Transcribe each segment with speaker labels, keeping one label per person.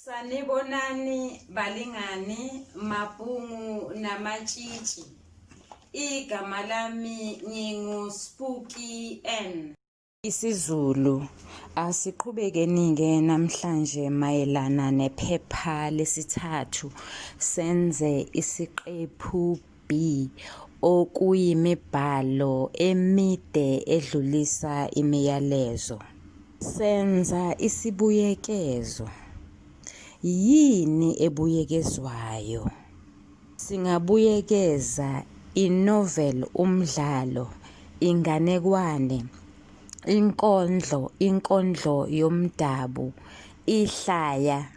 Speaker 1: Sanibonani balingani mabhungu namatshitshi igama lami ngingu Spooky N isiZulu
Speaker 2: asiqhubekeni-ke namhlanje mayelana nephepha lesithathu senze isiqephu B. Okuyimibhalo emide edlulisa imiyalezo. Senza isibuyekezo. Yini ebuyekezwayo? Singabuyekeza inovel umdlalo, inganekwane, inkondlo, inkondlo yomdabu, ihlaya.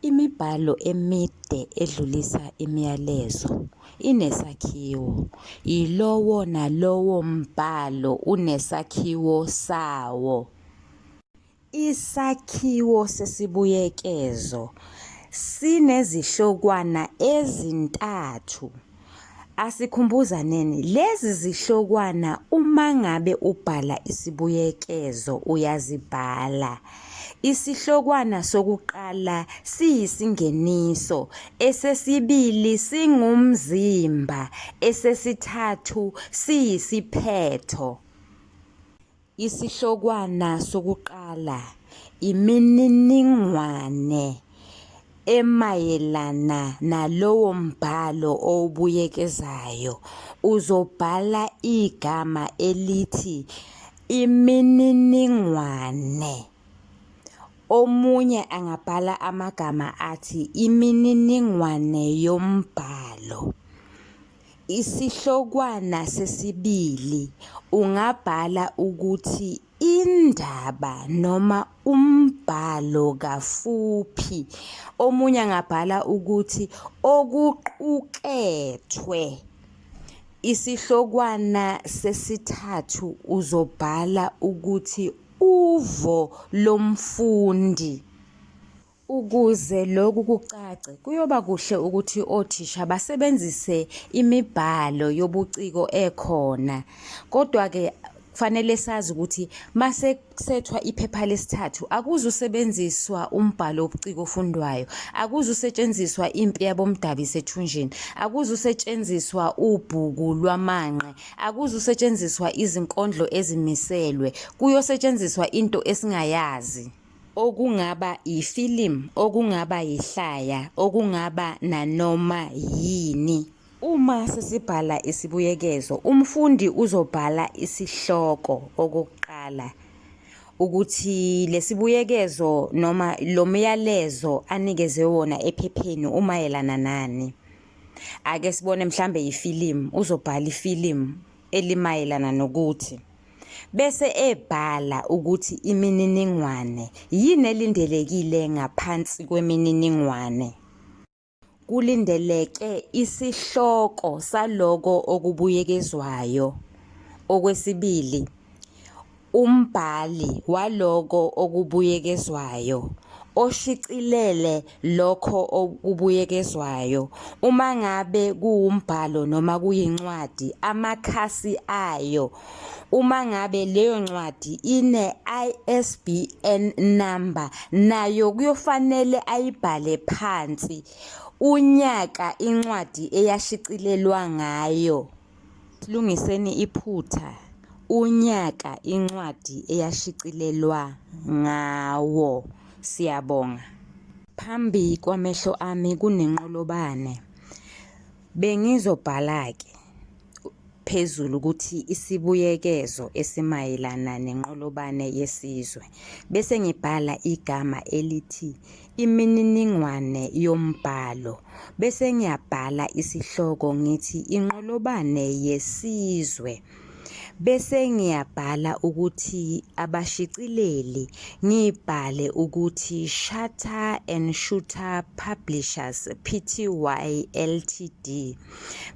Speaker 2: Imibhalo emide edlulisa imiyalezo inesakhiwo. Yilowo nalowo mbhalo unesakhiwo sawo. Isakhiwo sesibuyekezo sinezihlokwana ezintathu. Asikhumbuzaneni lezi zihlokwana uma ngabe ubhala isibuyekezo uyazibhala. Isihlokwana sokuqala siyisingeniso, esesibili singumzimba, esesithathu siyisiphetho. Isihlokwana sokuqala imininingwane emayelana nalowo mbhalo owubuyekezayo. Uzobhala igama elithi imininingwane. Omunye angabhala amagama athi imininingwane yombhalo. Isihlokwana sesibili ungabhala ukuthi indaba noma umbhalo kafuphi. Omunye angabhala ukuthi okuqukethwe. Isihlokwana sesithathu uzobhala ukuthi uvo lomfundi. Ukuze lokhu kucace, kuyoba kuhle ukuthi othisha basebenzise imibhalo yobuciko ekhona. Kodwa-ke kufanele sazi ukuthi mase kusethwa iphepha lesithathu akuzusebenziswa umbhalo wobuciko ofundwayo akuzusetshenziswa impi yabomdabi isethunjini akuzusetshenziswa ubhuku lwamanqe akuzusetshenziswa izinkondlo ezimiselwe kuyosetshenziswa into esingayazi okungaba yifilimu okungaba yihlaya okungaba nanoma yini Uma sesibhala isibuyekezo, umfundi uzobhala isihloko okokuqala ukuthi lesibuyekezo noma lo myalezo anikezwe wona ephepheni umayelana nani. Ake sibone mhlambe yifilimu, uzobhala ifilimu elimayelana nokuthi. bese ebhala ukuthi imininingwane yini elindelekile ngaphansi kwemininingwane. Kulindeleke isihloko saloko okubuyekezwayo. Okwesibili, umbhali waloko okubuyekezwayo oshicilele lokho okubuyekezwayo. Uma ngabe kuwumbhalo noma kuyincwadi, amakhasi ayo. Uma ngabe leyo ncwadi ine-ISBN number, nayo kuyofanele ayibhale phansi unyaka incwadi eyashicilelwa ngayo. Silungiseni iphutha unyaka incwadi eyashicilelwa ngawo. Siyabonga. Phambi kwamehlo ami kunenqolobane. Bengizobhala-ke phezulu ukuthi isibuyekezo esimayelana nenqolobane yesizwe, bese ngibhala igama elithi imininingwane yombhalo bese ngiyabhala isihloko ngithi inqolobane yesizwe bese ngiyabhala ukuthi abashicileli ngibhale ukuthi Shutter and Shooter Publishers Pty Ltd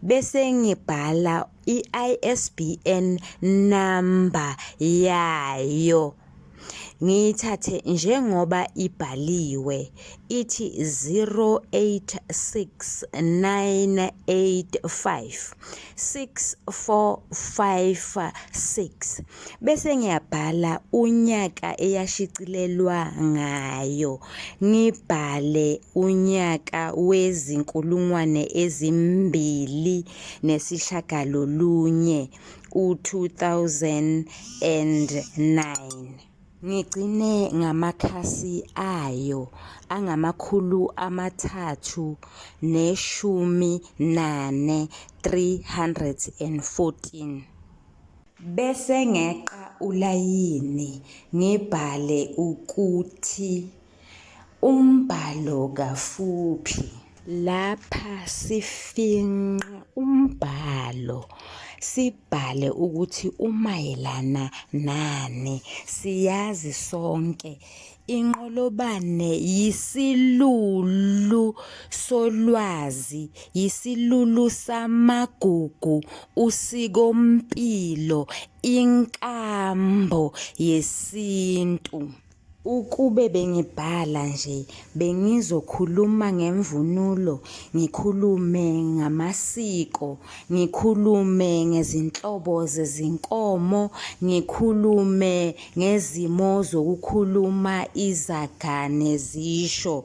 Speaker 2: bese ngibhala i-ISBN number yayo ngiyithathe njengoba ibhaliwe ithi 0869856456 bese ngiyabhala unyaka eyashicilelwa ngayo ngibhale unyaka wezinkulungwane ezimbili nesishagalolunye ku-2009. Ngigcine ngamakhasi ayo angamakhulu amathathu neshumi nane, 314. Bese ngeqa ulayini ngibhale ukuthi. Umbhalo kafuphi. Lapha sifinqa umbhalo sibhale ukuthi umayelana nani. Siyazi sonke inqolobane yisilulu solwazi, yisilulu samagugu, usikompilo, inkambo yesintu. Ukube bengibhala nje bengizokhuluma ngemvunulo, ngikhulume ngamasiko, ngikhulume ngezinhlobo zezinkomo, ngikhulume ngezimo zokukhuluma izaga nezisho.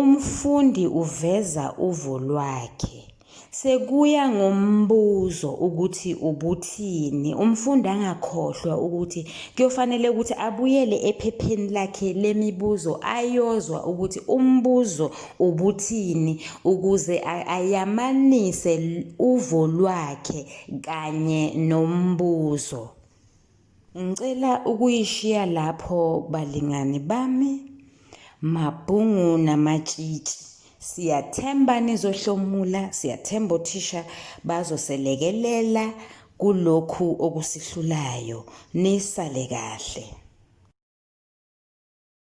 Speaker 2: Umfundi uveza uvo lwakhe. Sekuya ngombuzo ukuthi ubuthini. Umfundi angakhohlwa ukuthi kuyofanele ukuthi abuyele ephepheni lakhe lemibuzo ayozwa ukuthi umbuzo ubuthini ukuze ayamanise uvo lwakhe kanye nombuzo. Ngicela ukuyishiya lapho balingani bami, mabhungu namatshitshi. Siyathemba nizohlomula, siyathemba othisha bazoselekelela kulokhu okusihlulayo. Nisale kahle.